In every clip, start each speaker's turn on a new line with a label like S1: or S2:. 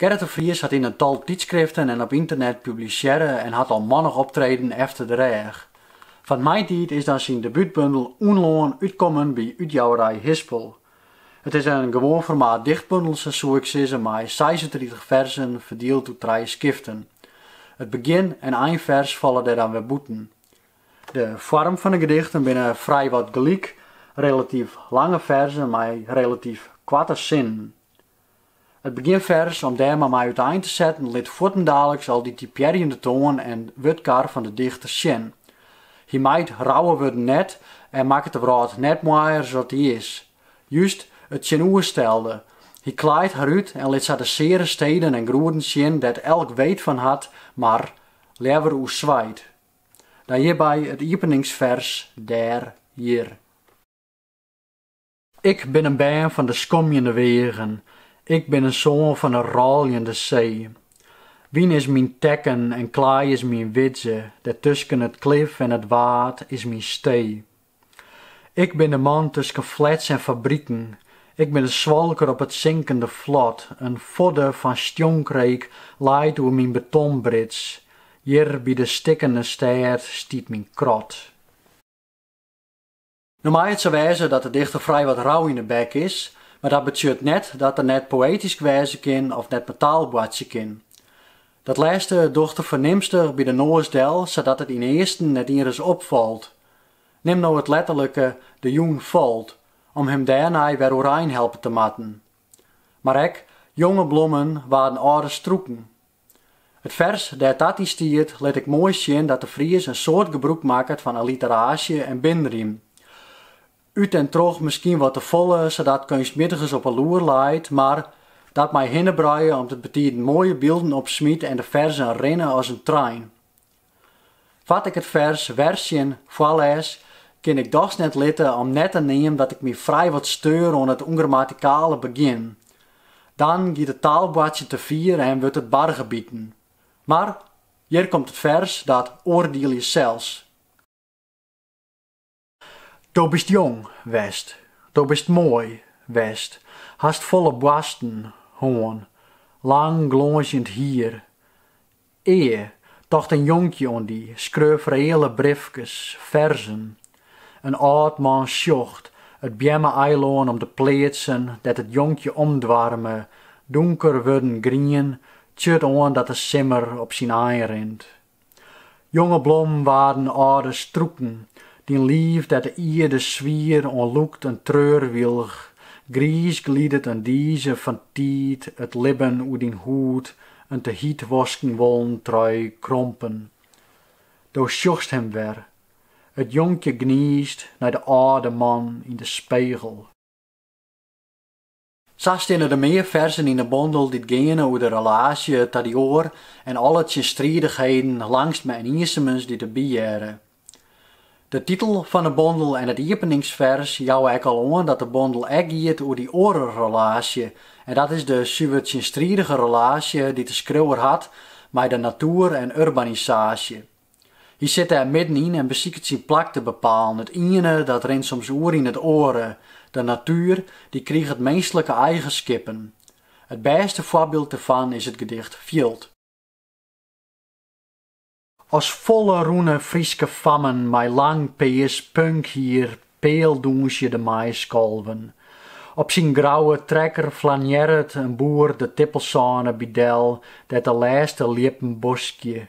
S1: Gerrit de Vries hat yn in tal tydskriften en op ynternet publisearre en hat al mannich optreden efter de rêch. Fan 'e maitiid is dan syn debútbundel Unlân útkommen by útjouwerij Hispel. It is in gewoan formaat dichtbundel, sa soe ik sizze, mei seisentritich ferzen ferdield oer trije skiften. It begjin en einfers falle dêr dan wer bûten. De foarm fan 'e gedichten binne frijwat gelyk, relatyf lange ferzen mei relatyf koarte sinnen. It begjinfers, om dêr mar mei útein te setten, lit fuortendaliks al dy typearjende toan en wurdkar fan de dichter sjen. Hy mijt rouwe wurden net en makket de wrâld net moaier as dat dy is. Just it tsjinoerstelde, hy klaait har út en lit sa de seare steden en groeden sjen dêr't elk weet fan hat, mar leaver oer swijt. Dan hjirby it iepeningsfers dêr hjir. Ik bin in bern fan de skomjende weagen, ik bin in soan fan de rôljende see. Wyn is myn tekken en klaai is myn widze, dêrtusken it klif en it waad is myn stee. Ik bin de man tusken flats en fabriken. Ik bin de swalker op it sinkende flot. In fodde fan stjonkreek leit oer myn betonbrits. Hjir by de stikkende stêd stiet myn krot. No mei it sa wêze dat de dichter frij wat rauw yn 'e bek is, mar dat betsjut net dat er net poëtysk wêze kin of net mei taal boartsje kin. Dat lêste docht er fernimstich by de noas del sadat it ynearsten net ienris opfalt. Nim no it letterlike de jûn falt om him dêrnei wer oerein helpe te moatten. Mar ek jonge blommen waarden âlde strûken. It fers dêr't dat yn stiet lit ek moai sjen dat De Vries in soad gebrûk makket fan alliteraasje en binrym. út en troch miskien wat te folle sadat keunstmjittigens op 'e loer leit, mar dat mei hinnebruie om't it betiden moaie bylden opsmyt en de ferzen rinne as in trein. Foar't ik it fers Wersjen foarlês, kin ik dochs net litte om net te neamen dat ik my frij wat steur oan it ûngrammatikale begjin. Dan giet it taalboartsjen te fier en wurdt it bargebiten. Mar hjir komt it fers dat oardielje sels. Do bist jong west, do bist moai west, hast folle boarsten hân, lang glânzjend hier. Ea, tocht in jonkje oan dy, skreau reële briefkes, ferzen. In âld man sjocht it beamme-eilân om de pleatsen dêr't it jonkje omdoarme, dûnker wurden grien, tsjut oan dat de simmer op syn ein rint. Jonge blommen waarden âlde strûken, dyn liif dêr't de ierde swier oan lûkt in treurwylch, griis glidet in dize fan tiid it libben oer dyn hûd in te hiet wosken wollen trui krompen. Do sjochst him wer, it jonkje gniist nei de âlde man yn de spegel. Sa steane der mear ferzen yn de bondel dy't geane oer de relaasje ta dy oar en alle tsjinstridichheden langstme en iensemens dy't der by hearre. De titel fan 'e bondel en it iepeningsfers jouwe ek al oan dat de bondel ek giet oer dy oare relaasje en dat is de suver tsjinstridige relaasje dy't de skriuwer hat mei de natoer en urbanisaasje. Hy sit dêr middenyn en besiket syn plak te bepalen. It iene, dat rint soms oer yn it oare. De natuer, dy kriget minsklike eigenskippen. It bêste foarbyld derfan is it gedicht Fjild. As folle rûne Fryske fammen mei lang pears punkhier pealdûnsje de maiskolven. Op syn grouwe trekker flanearret in boer de tippelsône by del dêr't de lêste ljippen boskje.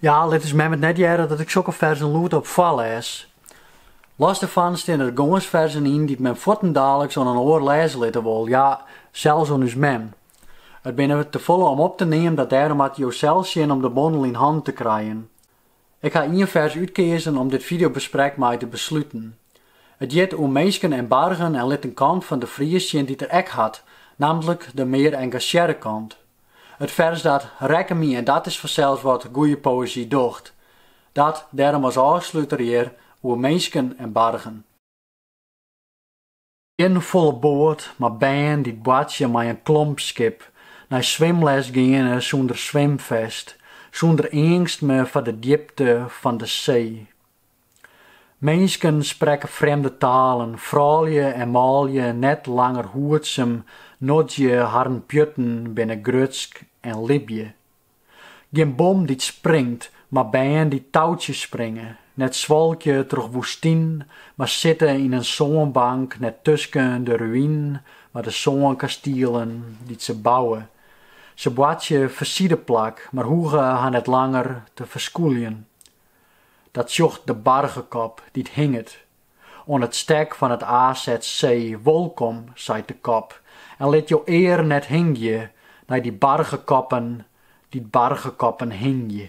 S1: Ja, lit ús mem it net hearre dat ik sokke ferzen lûdop foarlês. Los dêrfan steane der gâns ferzen yn dy't men fuortendaliks oan in oar lêze litte wol, ja, sels oan ús mem. It binne te folle om op te neamen dat dêrom moatte jo sels sjen om de bondel yn hannen te krijen. Ik ha ien fers útkeazen om dit fideobesprek mei te besluten. It hjit Oer minsken en bargen en lit in kant fan De Vries sjen dy't er ek hat, nammentlik de mear engasjearre kant. It fers dat rekke my en dat is fansels wat goeie poëzy docht. Dat dêrom as ôfsluter hjir oer minsken en bargen. Gjin folle boat, mar bern dy't boartsje mei in klompskip, nei swimles geane sûnder swimfest, sûnder eangstme foar de djipte fan de see. Minsken sprekke frjemde talen, froulju en manlju net langer hoedsum, noedzje harren pjutten binne grutsk en libje. Gjin bom dy't springt, mar bern dy't toutsje springe, net swalkje troch woestyn, mar sitte yn in sânbank, net tusken de ruïnen, mar de sânkastielen dy't se bouwe. Se boartsje fersideplak, mar hoege har net langer te ferskûljen. Dat sjocht de bargekop dy't hinget oan it stek fan it AZC. Wolkom, seit de kop, en lit jo ear net hingje nei dy bargekoppen dy't bargekoppen hingje.